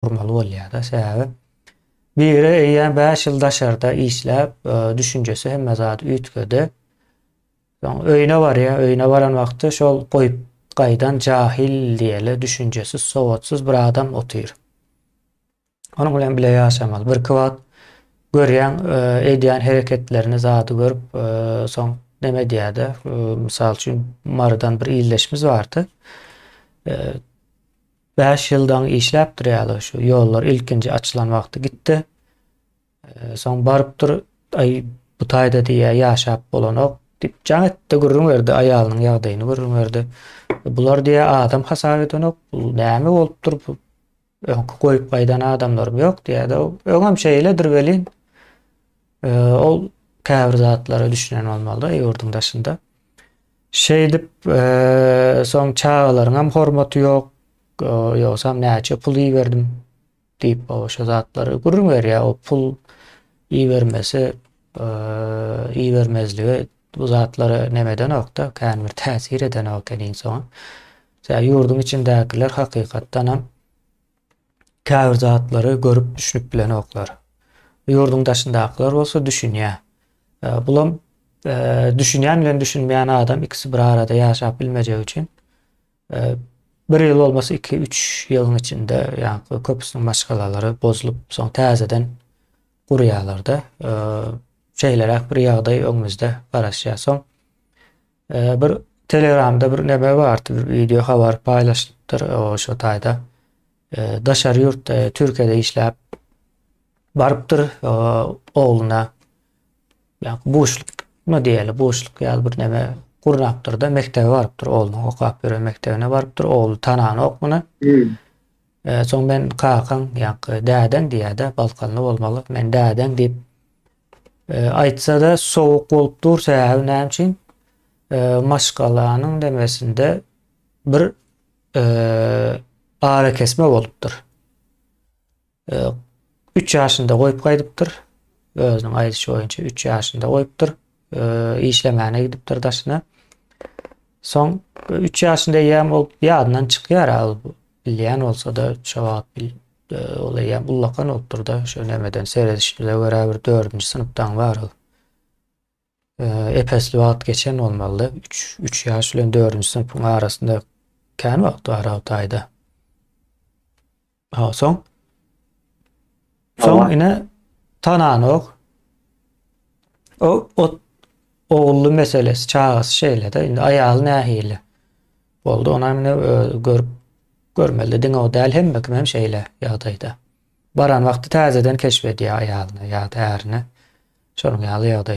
gurmaly bolýar-da. Sebäbi biri eýýäm bäş ýyl daşarda işläp, düşünjesi hemme zady üýtgedi. Soň öýüne barýar, öýüne baran wagty şol goýup gaýdan jahil diýeli düşünjesiz, sowatsyz bir adam otyr. Onuň bilen bile ýaşamaly. Birki wagt görýän, edýän hereketlerini, zady görüp, soň neme edýär-de, mysal üçin, Marydan bir ildeşimiz bardy. Bäş ýyl daň işläpdir ýaly şu ýollar ilkinji açylan wagty gitdi. Soň barypdyr, aý bu taýda diýýär ýaşap bolanok diýip jaň etdi, gürrüň berdi, aýalynyň ýagdaýyny gürrüň berdi. Bular diýýär adam hasap edenok, bu näme bolupdyr, bu öňki goýup gaýdan adamlarym ýok diýýär-de, öňem şeýledir welin, ol käbir zatlara düşünen bolmaly-da ýurduň daşynda. Şeýdip, soň çagalaryňam hormaty ýok, ýogsam näçe pul iberdim diýip, şo zatlary gürrüň berýär. O pul ibermesi, ibermezligi bu zatlara neme edenok-da, kän bir täsir edenok eken iň soňy. Ýurduň içindäkiler hakykatdanam Käbir zatlary görüp düşünip bilenoklar. Ýurduň daşyndakylar bolsa düşünýä. Bulam düşünýän bilen düşünmeýän adam ikisi bir arada ýaşap bilmejegi üçin bir ýyl bolmasa iki üç ýylyň içinde ýaňky köpüsiniň maşgalalary bozulyp soň täzeden gurýarlarda şeýleräk bir ýagdaý öňümizde garaşýar. Soň Ee, bir Telegramda bir neme bardy, bir video habar paýlaşdypdyr o şo taýda. Ee, daşary ýurtda, e, Türkiýede işläp barypdyr e, ogluna. Ýa buşlukmy diýeli, buşluk ýaly bir neme gurnapdyr da mekdebe barypdyr ogluna, okap ýören mekdebine barypdyr. Ogly tananok muny. Hmm. Ee, soň men kakaň, ýa dädeň diýýär-de, balkanly bolmaly. Men dädeň diýip E, aýtsa-da sowuk bolup dur, sähel näme üçin? E, maşgalanyň demesinde bir e, ara kesme bolupdyr. E, 3 ýaşynda goýup gaýdypdyr. Özüniň aýdyşy boýunça 3 ýaşynda goýupdyr. E, işlemäne gidipdir daşyna. Soň 3 ýaşynda ýa bolup ýadyndan çykýar al bilýän bolsa-da şo wagt Ol eýýäm ullakan bolupdyr-da, şu nämeden seredişimize görä bir dördünji synpdaň barygy. Epesli wagt geçen bolmalydy. Üç, üç ýaş bilen dördünji synpyň arasynda kän wagt bar Altayda. Ha, soň? Soň ine tananok. O, o ogully meselesi, çagasy şeýle-de, indi aýaly nähili? Boldy onam ine özi görüp görmeli diňe o däl hemme kimem şeýle ýagdaýda. Baran wagty täzeden keşf edýär aýalyny ýa-da ärini. Şonuň ýaly ýagdaý.